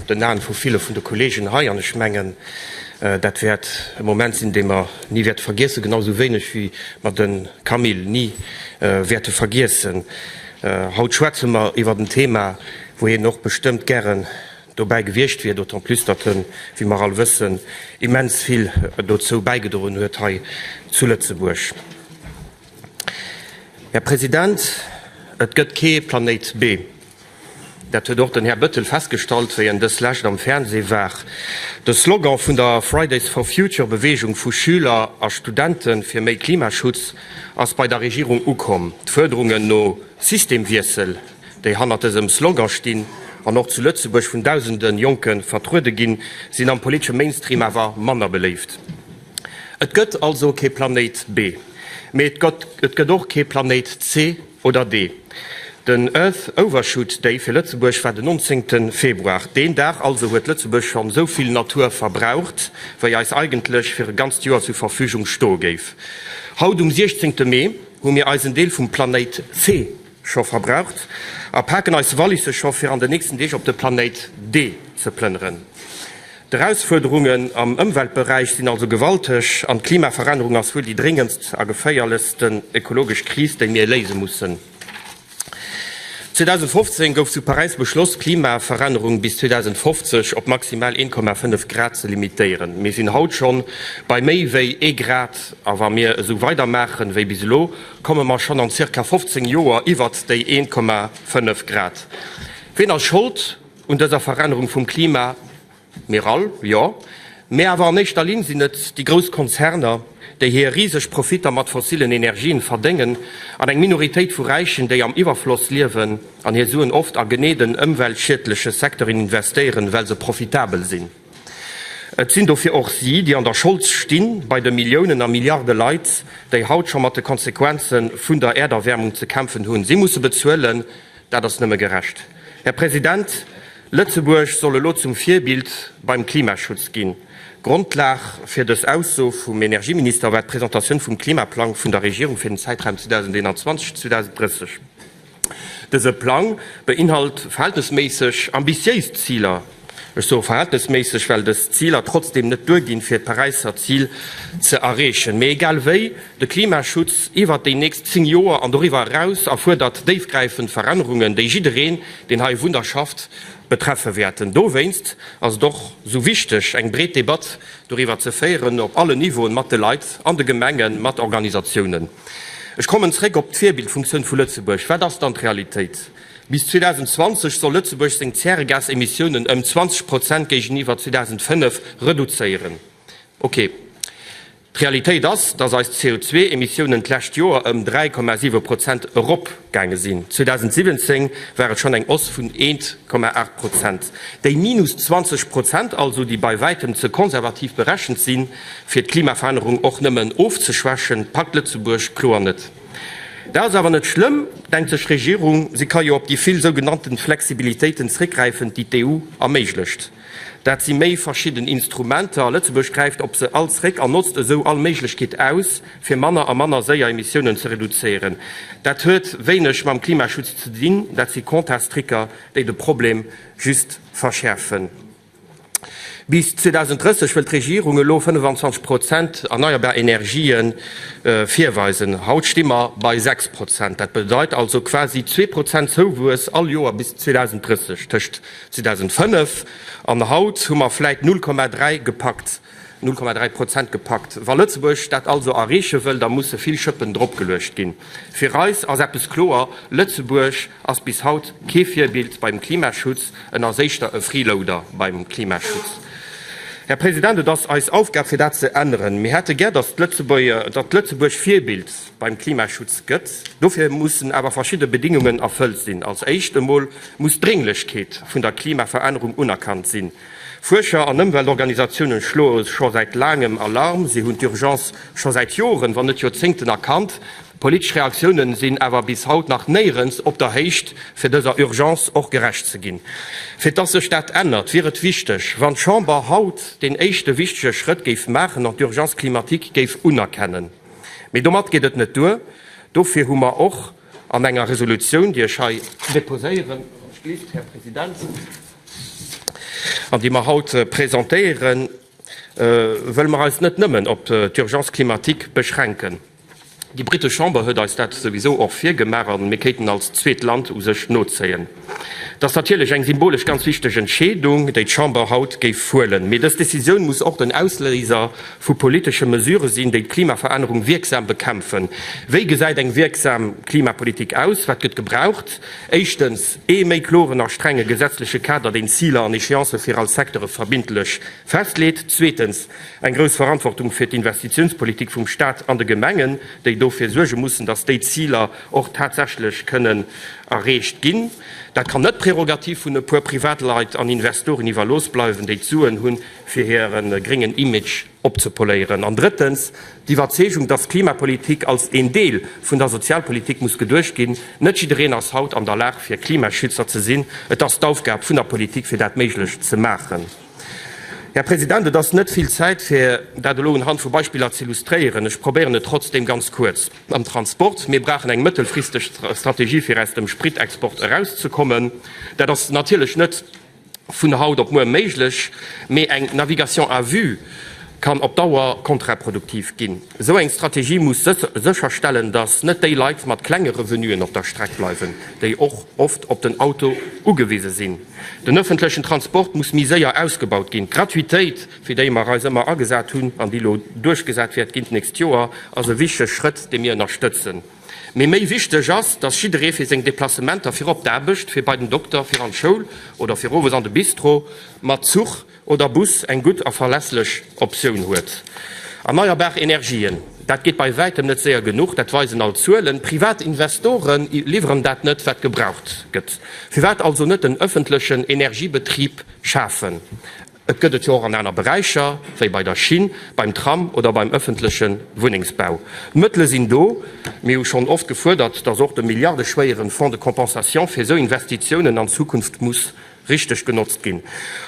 den Aen vu ville vun de Kolleegen hei, an ech mengen, dat wäert e Moment sinn, dee mer ni wäerte vergiessen, genau esou wéineg wéi mer de Camille ni wäerte vergiessen. Haut schwätze mer iwwert en Thema, wou hien och bestëmmt gären dobäi gewiescht wier, d'autant plus datt hien, wéi mer all wëssen, immens vill dozou bäigedroen huet hei zu Lëtzebuerg. Här President, et gëtt kee Planéit B. Dat huet och den Här Bettel festgestallt, wéi en dës Lescht am Fernseh war. De Slogan vun der Fridays for Future Beweegung vu Schüler a Studente fir méi Klimaschutz ass bei der Regierung ukomm. D'Fuerderungen no Systemwiessel, déi hannert dësem Slogan stinn an och zu Lëtzebuerg vun dausende Jonke vertruede ginn, sinn am politesche Mainstream awer manner beléift. Et gëtt also kee Planéit B, mee et gëtt och kee Planéit C oder D. Den Earth Overshoot Day fir Lëtzebuerg war den 19 Februar. Deen Dag also huet Lëtzebuerg schonn esou vill Natur verbraucht, wéi eis eigentlech fir e ganzt Joer zur Verfügung stoe géif. Haut um 16 Mee hu mir eisen Deel vum Planéit C Scho verbraucht a paken eis Wallisse scho fir an den nächsten Deeg op de Planéit D ze plënneren. D'Erausfuerderungen am Ëmweltberäich sinn also gewalteg an d'Klimaverännerung ass wuel déi dréngendst a geféierlechsten ökologesch Kris, déi mir léise mussen. 2015 gouf zu Paräis beschloss, d'Klimaverännerung bis 2050 op maximal 1,5 Grad ze limitéieren. Mir sinn haut schonn bei méi wéi ee Grad a wa mir esou weidermaachen, wéi bis elo, Komme mer schonn an zirka 15 Joer iwwert déi 1,5 Grad? Ween ass Schold un dëser Verännerung vum Klima? Mir all, jo, mä awer an éischter Linn sinn et déi grouss Konzerner, déi hir riseg Profitter mat fossillen Energien verdéngen, an eng Minoritéit vu Räichen, déi am Iwwerfloss liewen an hir Suen oft a genee den ëmweltschiedleche Secteuren investéieren, well se profitabel sinn. Et sinn dofir och si, déi an der Schold sti bei de Milliounen a Milliarde Leit, déi haut scho mat de Konsequenze vun der Äerderwäermung ze kämpfen hunn. Si musse bezuelen. Dat ass nëmme gerecht. Här President, Lëtzebuerg soll elo zum Virbild beim Klimaschutz ginn. Grondlag fir dës Ausso vum Energieminister war d'Presentatioun vum Klimaplang vun der Regierung fir den Zäitraum 2021-2030. Dëse Plang beinhalt verhältnesméisseg ambitiéis Ziler. Ech soe verhältnesméisseg, well dës Ziler trotzdeem net duerginn, fir d'Paräisser Zil ze erreechen. Mee egal wéi, de Klimaschutz iwwert déi nächst zéng Joer an doriwwer eraus erfuerdert déifgräifend Verännerungen, déi jiddereen, deen hei wunnt a schafft, betreffe wäerten. Dowéinst ass et och esou wichteg, eng breet Debatt Doriwwer ze féieren, op allen Niveauen, mat de Leit an de Gemengen, mat Organisatiounen. Ech kommen zréck op d'Virbildfunktioun vu Lëtzebuerg. Wat ass dann d'Realitéit? Bis 2020 soll Lëtzebuerg seng Zäregasemissiounen ëm 20 Prozent géigeniwwer 2005 reduzéieren. Ok, d'Realitéit ass, dass eis CO2-Emissiounen d'lescht Joer ëm 3,7 Prozent erop. gaange sinn. 2017 war et schonn eng Hausse vun 1,8 Prozent. Déi minus 20 Prozent also, déi bei wäitem ze konservativ berechent sinn, fir d'Klimaverännerung och nëmmen ofzeschwächen, packt Lëtzebuerg kloer net. Dat ass awer net schlëmm, denkt sech d'Regierung, si ka jo op déi vill sougenannte Flexibilitéiten zréckgräifen, déi d'EU erméiglecht. Dat si méi verschidden Instrumenter. Lëtzebuerg gräift op se all zréck an notzt esou all Méiglechkeet aus, fir manner a manner séier Emissiounen ze reduzéieren. Dat huet wéineg mam Klimaschutz ze dinn, dat si Comptastricker, déi de Problem just verschäerfen. Bis 2030 wëll d'Regierung elo 25 Prozent erneierbar Energië virweisen. Haut sti mer bei 6 Prozent. Dat bedeit also quasi zwee Prozent Zouwuess all Joer bis 2030. Tëscht 2005 an haut hu mer vläit 0,3 gepackt, 0,3 Prozent gepackt. Wa Lëtzebuerg dat also erreeche wëll, da musse vill Schëppen dropgeluecht ginn. Fir eis ass eppes kloer, Lëtzebuerg ass bis haut kee Virbild beim Klimaschutz, en ass éischter e Freeloader beim Klimaschutz. Här President, et ass eis Aufgab fir dat ze änneren. Mir hätte gär, datt Lëtzebuerg Virbild. beim Klimaschutz gëtt. Dofir mussen awer verschidde Bedingungen erfëllt sinn. Als éischt emol muss d'Drénglechkeet vun der Klimaverännerung unerkannt sinn. Fuerscher an Ëmweltorganisatiounen schloe scho säit laangem Alarm. Si hunn d'Urgence scho säit Joren, wann net Joerzéngten erkannt. D'politesch Reaktiounen sinn awer bis haut nach néierens op der Héicht, fir dëser Urgence och gerecht ze ginn. Fir dass sech dat ännert, wier et wichteg, wann d'Chamber haut deen éischte wichtege Schrëtt géif maachen an d'Urgence climatique géif unerkennen. Mee domat geet et net duer. Dofir hu mer och an enger Resolutioun, déi ech hei déposéieren, Här President, an déi mer haut presentéieren, wëlle mer eis net nëmmen op d'Urgence climatique beschränken. Déi britesch Chamber huet eis dat souwisou och virgemaach a mir kéinten als zweet Land u sech nozéien. Et ass natierlech eng symbolesch ganz wichteg Entscheedung, déi d'Chamber haut géif huelen. Mee dës Decisioun muss och den Ausléiser vu politesche Mesurë sinn, déi d'Klimaverännerung wierksam bekämpfen. Wéi gesäit eng wierksam Klimapolitik aus? Wat gëtt gebraucht? Éischtens, ee méi kloren a strenge gesetzleche Kader, deen Ziler an Echéancë fir all Secteure verbindlech festleet. Zweetens, eng grouss Verantwortung fir d'Investitiounspolitik vum Staat an de Gemengen, déi dofir suerge mussen, datt déi Ziler, och tatsächlech kënnen erreecht ginn. Dat kann net d'Prerogativ vun e puer Privatleit an Investoren iwwerlooss bleiwen, déi d'Suen hunn, fir hire gréngen Image opzepoléieren. An drëttens, d'Iwwerzeegung, dass d'Klimapolitik als een Deel vun der Sozialpolitik muss geduecht ginn. Net jiddereen ass haut an der Lag, fir Klimaschützer ze sinn. Et ass d'Aufgab vun der Politik, fir dat méiglech ze maachen. Här President, et ass net vill Zäit, fir dat elo unhand vu Beispiller ze illustréieren. Ech probéieren et trotzdeem ganz kuerz. Am Transport, Mir brauchen eng mëttelfristeg Strategie fir aus dem Spritexport erauszekommen. Dat ass natierlech net vun haut op muer méiglech, mee eng Navigation à vue kann op Dauer kontraproduktiv ginn. Esou eng Strategie muss sécherstellen, datt net déi Leit mat klenge Revenuen op der Streck bleiwen, déi och oft op den Auto ugewise sinn. Den ëffentlechen Transport muss méi séier ausgebaut ginn. D'Gratuitéit. fir déi mer eis ëmmer agesat hunn an déi elo duerchgesat wäert ginn d'nächst Joer, ass e wichtege Schrëtt, dee mir ënnerstëtzen. Mee méi wichteg ass, dass jidderee fir seng Deplacementer fir op d'Aarbecht, fir bei den Dokter, fir an d'Schoul oder fir owes an de Bistro mat Zuch oder Bus eng gutt a verlässlech Optioun huet. Erneierbar Energien, dat geet bei wäitem net séier genuch, dat weisen all d'Zuelen. Privat Investore liwweren dat net, wat gebraucht gëtt. Firwat also net en ëffentlechen Energiebetrib schafen? Et gëtt et jo och an aner Beräicher, wéi bei der Schinn, beim Tram oder beim ëffentleche Wunnengsbau. D'Mëttele sinn do. Mir hu schonn oft gefuerdert, datt och de milliardeschwéiere Fonds de compensation fir esou Investitiounen an Zukunft muss richteg genotzt ginn.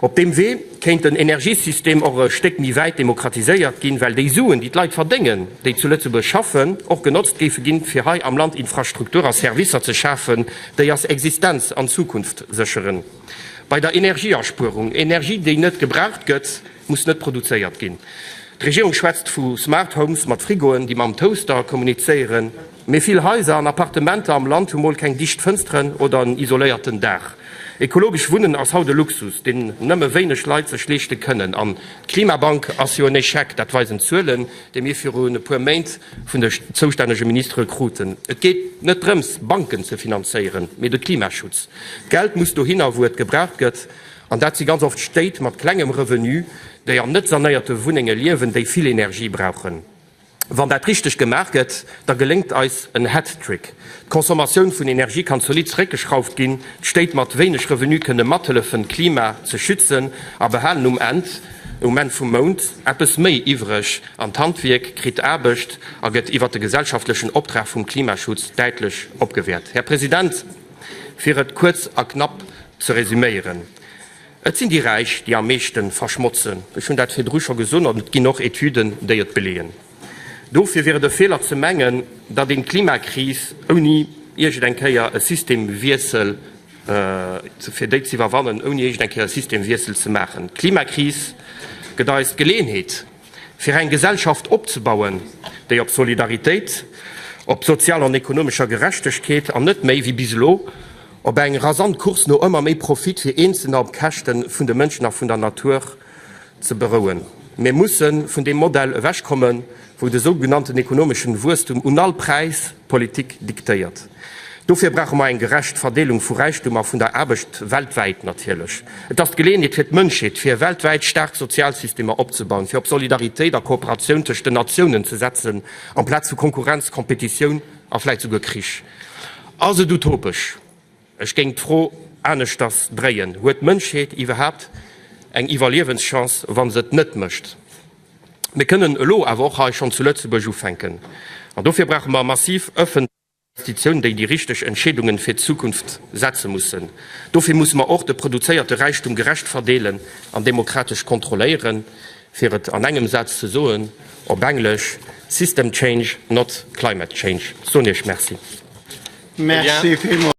Op deem Wee kéint den Energiesystem och e Stéck méi wäit demokratiséiert ginn, well déi Suen, déi d'Leit verdéngen, déi zu Lëtzebuerg schaffen, och genotzt géife ginn, fir hei am Land Infrastruktur a Servicer ze schafen, déi eis Existenz an Zukunft sécheren. Bei der Energieaspuerung, Energie déi net gebraucht gëtt, muss net produzéiert ginn. D'Regierung schwätzt vu Smart Homes mat Frigoen, déi mam Toaster kommunizéieren. Mee vill Haiser an Appartementer am Land hu mol keng dicht Fënsteren oder en isoléierten Daach. Ekologesch Wunnen ass haut e Luxus, deen nëmme wéineg Leit sech leeschte kënnen. An d'Klimabank ass jo en Echec, dat weisen d'Zuelen, déi mir virun e puer Méint vun de zoustännege Ministere kruten. Et geet net drëms, Banken ze finanzéieren, mee de Klimaschutz. D'Geld muss dohinner, wou et gebraucht gëtt, an dat si ganz oft Stéit mat klengem Revenu, déi an net sanéierte Wunnenge liewen, déi vill Energie brauchen. Wann dat richteg gemaach gëtt, da geléngt eis en Hattrick, D'Consommatioun vun Energie kann zolidd zeréckgeschrauft ginn, d'Stéit mat wéineg Revenu kënne mathëllefen, d'Klima ze schützen a behalen um Enn, um Enn vum Mount, eppes méi iwwreg an d'Handwierk kritt Aarbecht a gëtt iwwert de gesellschaftlechen Optrag vum Klimaschutz däitlech opgewäert. Här President! Fir et kuerz a knapp ze resuméieren, Et sinn déi Räich, déi am meeschte verschmotzen. Ech hunn dat virdru scho gesot an et ginn och Etüden, déi et beleeën. Dofir wier et e Feeler ze mengen, datt een d'Klimakris ouni iergend eng Kéier e Systemwiessel, fir déi ze iwwerwannen, ouni iergend eng Kéier e Systemwiessel ze maachen. D'Klimakris gëtt eis d'Geleeënheet, Fir eng Gesellschaft opzebauen, déi op Solidaritéit, op sozialer an ekonomescher Gerechtegkeet an net méi, wéi bis elo, op eng rasant Course no ëmmer méi Profit fir Eenzelner op Käschte vun de Mënschen a vun der Natur, ze berouen. Mir musse vun deem Modell ewechkommen, wou de sougenannten ekonomeschen Wuesstum un all Präis d'Politik diktéiert. Dofir brauche mer eng gerecht Verdeelung vu Räichtum a vun der Aarbecht weltwäit natierlech. Et ass d'Geleeënheet fir d'Mënschheet, fir weltwäit staark Sozialsystemer opzebauen, fir op Solidaritéit a Kooperatioun tëscht den Natiounen ze setzen, amplaz vu Konkurrenz, Competitioun a vläicht souguer Krich. Ass et utopesch? Ech géing d'Fro aneschters dréien, Huet d'Mënschheet iwwerhaapt eng Iwwerliewenschance, wa se et net mécht? Mir kënnen elo awer och hei schonn zu Lëtzebuerg ufänken. An dofir brauche mer massiv ëffentlech. Investitioun, déi déi richteg Entscheedungen fir d'Zukunft setze mussen. Dofir musse mer och de produzéierte Räichtum gerecht verdeelen an demokratesch kontrolléieren, fir et an engem Saz ze soen, op Englesch, System change, not climate change. Ech soen Iech Merci.